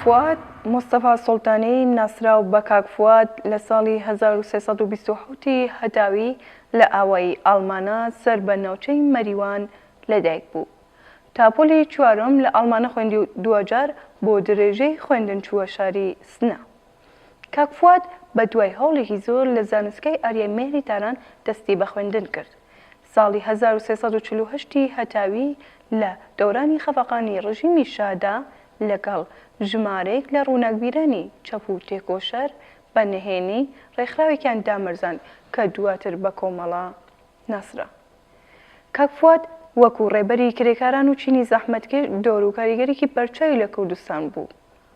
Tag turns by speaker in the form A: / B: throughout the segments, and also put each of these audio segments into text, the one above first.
A: فواد مستەفا سوڵتانی ناسراو بە کاک فواد لە ساڵی 1327 ی هەتاوی لە ئاوایی ئاڵمانە سەر بە ناوچەی مەریوان لەدایک بوو. تا پۆلی چوارم لە ئاڵمانە خوێندی و دواجار بۆ درێژەی خوێندن چووە شاری سنە. کاک فواد بە دوای هەوڵێکی زۆر لە زانستگای ئاریای مێهری تاران دەستی بە خوێندن کرد. ساڵی هەزار و سێ سەد و چل و هەشت ی هەتاوی لە دەورانی خەفەقانی ڕژیمی شادا لەگەڵ ژمارەیەک لە ڕووناکبیرانی چەپ و تێکۆشەر بە نهێنی ڕێکخراوێکیان دامەرزاند کە دواتر بە کۆمەڵە ناسرا. کاک فواد وەکوو ڕێبەری کرێکاران و چینی زەحمەتکێش دەور و کاریگەریی بەرچاوی لە کوردستان بوو.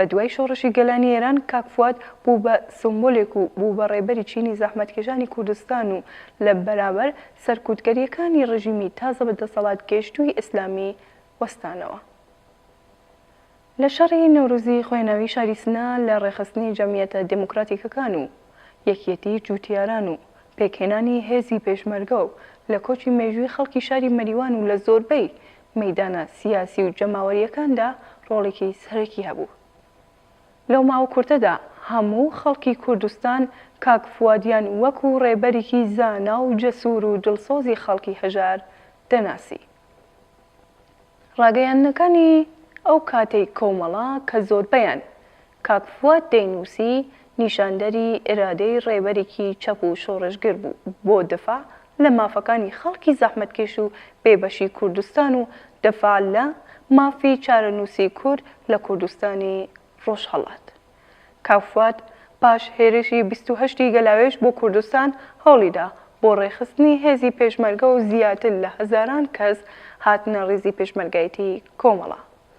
A: بە دوای شۆڕشی گەلانی ئێران کاک فواد بوو بە سمبولێک و بوو بە ڕێبەری چینی زەحمەتکێشانی کوردستان و لە بەرابەر سەرکوتگەرییەکانی ڕژیمی تازە بە دەسەڵات گەیشتووی ئیسلامی وەستانەوە. لە شەڕی نەورۆزی خوێناوی شاری سنە لە ڕێکخستنی جەمیەتە دێموکراتیکەکان و یەکیەتیی جووتیاران و پێکهێنانی هێزی پێشمەرگە و لە کۆچی مێژووی خەڵکی شاری مەریوان و لە زۆربەی مەیدانە سیاسی و جەماوەریەکاندا ڕۆڵێکی سەرەکی هەبوو. لەو ماوە کورتەدا هەموو خەڵکی کوردستان کاک فوادیان وەکو ڕێبەریکی زانا و جەسور و دڵسۆزی خەڵکی هەژار دەناسی. ڕاگەیاندنەکانی ئەو کاتەی کۆمەڵە کە زۆربەیان کاک فواد دەینووسی نیشاندەری ئیرادەی ڕێبەرێکی چەپ و شۆڕشگر بوو بۆ دفاع لە مافەکانی خەڵکی زەحمەتکێش و بێبەشی کوردستان و دفاع لە مافی چارەنووسی کورد لە کوردستانی ڕۆژهەڵات. کاک فواد پاش هێرشی بیست و هەشت ی گەلاوێژ بۆ کوردستان هەوڵیدا بۆ ڕێکخستنی هێزی پێشمەرگە و زیاتر لە هەزاران کەس هاتنە ڕیزی پێشمەرگایەتی کۆمەڵە.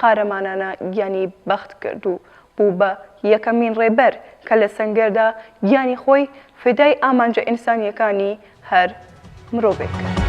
A: قارەمانانە گیانی بەخت کرد و بوو بە یەکەمین ڕێبەر کە لە سەنگەردا گیانی خۆی فیدای ئامانجە ئینسانییەکانی هەر مرۆڤێک کرد.